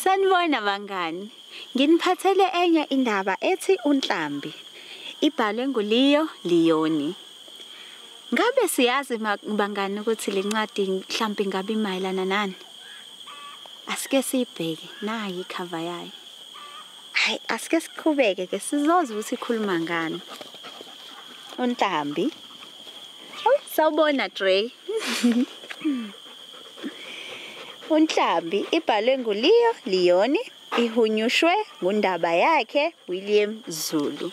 Sanibona bangani. Nginiphathele enye indaba ethi uNhlambi. Ibhalwe nguLeo Leoni. Ngabe siyazi bangani ukuthi le ncwadi mhlambi ngabe imayelana nani? Asike siyibheke nayi ikhava yayo. Hayi asike siqhubeke ke sizozwa ukuthi ikhuluma ngani. Untambi. Oh, sawubona Dre. Unhlambi ibhalwe nguLeo Leoni ihunyushwe ngundaba yakhe William Zulu.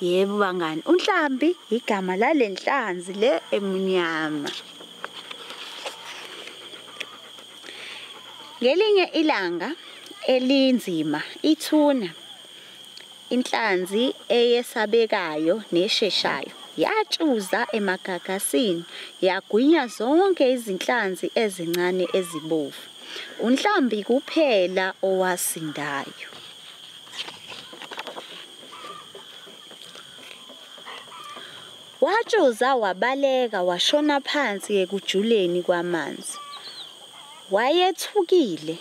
Yebo bangani, uNhlambi igama lalenhlanzi le emunyama. Ngelinye ilanga elinzima ithuna inhlanzi eyesabekayo nesheshayo yatshuza emagagasini yagwinya zonke izinhlanzi ezincane ezibovu. Unhlambi kuphela owasindayo. Watshoza wabaleka washona phansi ekujuleni kwamanzi. Wayethukile,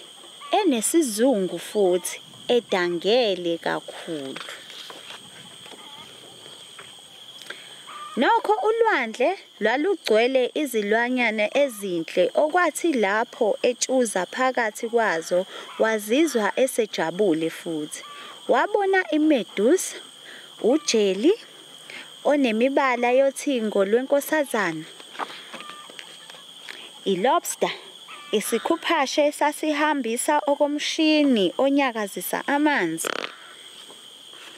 enesizungu futhi edangele kakhulu. Nokho ulwandle lwalugcwele izilwanyana ezinhle okwathi lapho etshuza phakathi kwazo wazizwa esejabule futhi. Wabona imedusa, ujeli onemibala yothingo lwenkosazana, ilobster, isikhuphashe esasihambisa okomshini onyakazisa amanzi,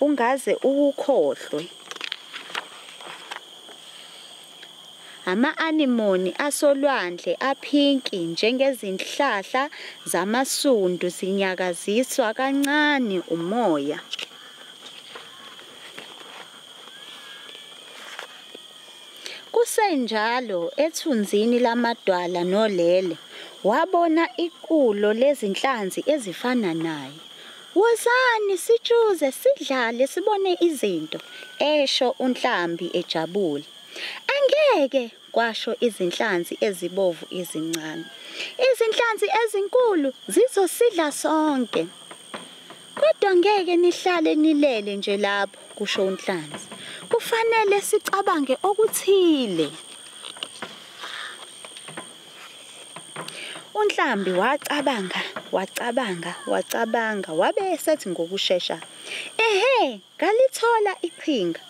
ungaze uwukhohlwe. Ama-anemone asolwandle aphinki njengezinhlahla zamasundu zinyakaziswa kancane umoya. Kusenjalo ethunzini lamadwala nolele, wabona iqulo lezinhlanzi ezifana naye. Wozani sitshuze sidlale sibone izinto, esho uNhlambi ejabule. Angeke, kwasho izinhlanzi ezibovu ezincane. Izinhlanzi ezinkulu zizosidla sonke. Kodwa ngeke nihlale nilele nje lapho, kusho uNhlanzi. Kufanele sicabange okuthile. UNhlambi wacabanga, wacabanga, wacabanga wabe esethi ngokushesha, Ehhe, ngalithola iqhinga.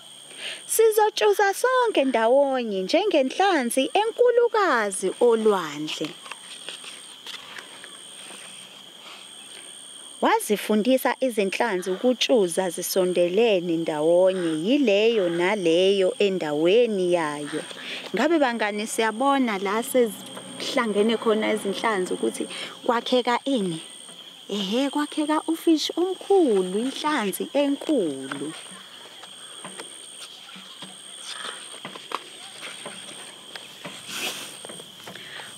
Sizotshuza sonke ndawonye njengenhlanzi enkulukazi olwandle. Wazifundisa izinhlanzi ukutshuza zisondelene ndawonye yileyo naleyo endaweni yayo. Ngabe bangani siyabona la sezihlangene khona izinhlanzi ukuthi kwakheka ini? Ehhe kwakheka ufish omkhulu, inhlanzi enkulu.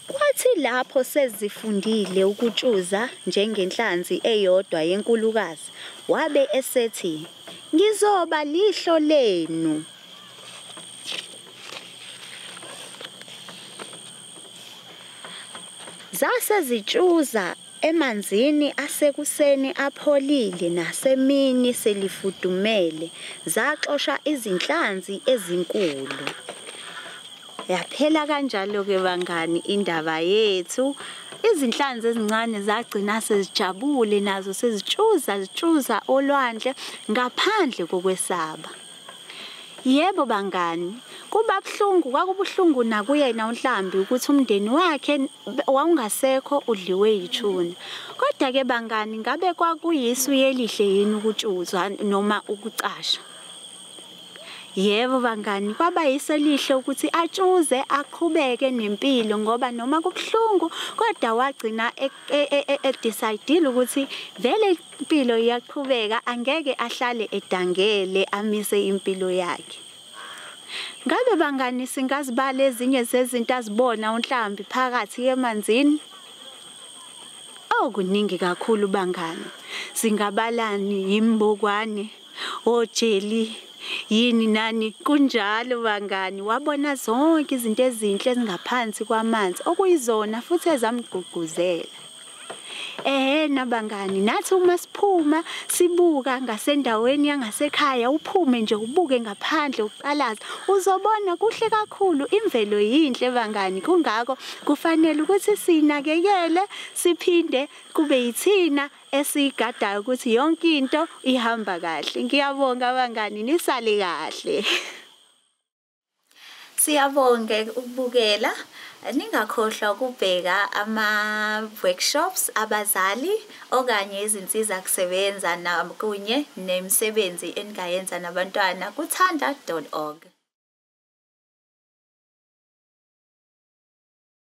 Kwathi lapho sezifundile ukutshuza njengenhlanzi eyodwa yenkulukazi, wabe esethi, Ngizoba lihlo lenu. Zase zitshuza emanzini asekuseni apholile nasemini selifudumele, zaxosha izinhlanzi ezinkulu. Yaphela kanjalo-ke bangani indaba yethu. Izinhlanzi ezincane zagcina sezijabule nazo sezitshuza zitshuza olwandle ngaphandle kokwesaba. Yebo bangani, kuba buhlungu kwakubuhlungu nakuyena uNhlambi ukuthi umndeni wakhe wawungasekho udliwe yithuna. Kodwa-ke bangani ngabe kwakuyisu yelihle yini ukutshuzwa noma ukucasha? Yebo bangani kwaba yiso lihle ukuthi atshuze aqhubeke nempilo ngoba noma kubuhlungu kodwa wagcina e, e, e, edecidile ukuthi vele impilo iyaqhubeka angeke ahlale edangele amise impilo yakhe Ngabe bangani singazibala ezinye zezinto azibona uNhlambi phakathi emanzini? Oh kuningi kakhulu bangani. Singabalani yimbukwane ojeli yini nani kunjalo bangani wabona zonke izinto ezinhle ezingaphansi kwamanzi okuyizona futhi ezamgqugquzela ehena bangani nathi uma siphuma sibuka ngasendaweni yangasekhaya uphume nje ubuke ngaphandle uqalaza uzobona kuhle kakhulu imvelo yinhle bangani kungako kufanele ukuthi sinakekele siphinde kube yithina esiyigadayo ukuthi yonke into ihamba kahle ngiyabonga abangani nisale kahle siyabonga ukubukela ningakhohlwa ukubheka ama-workshops abazali okanye izinsiza kusebenza nakunye nemisebenzi eningayenza nabantwana kuthanda org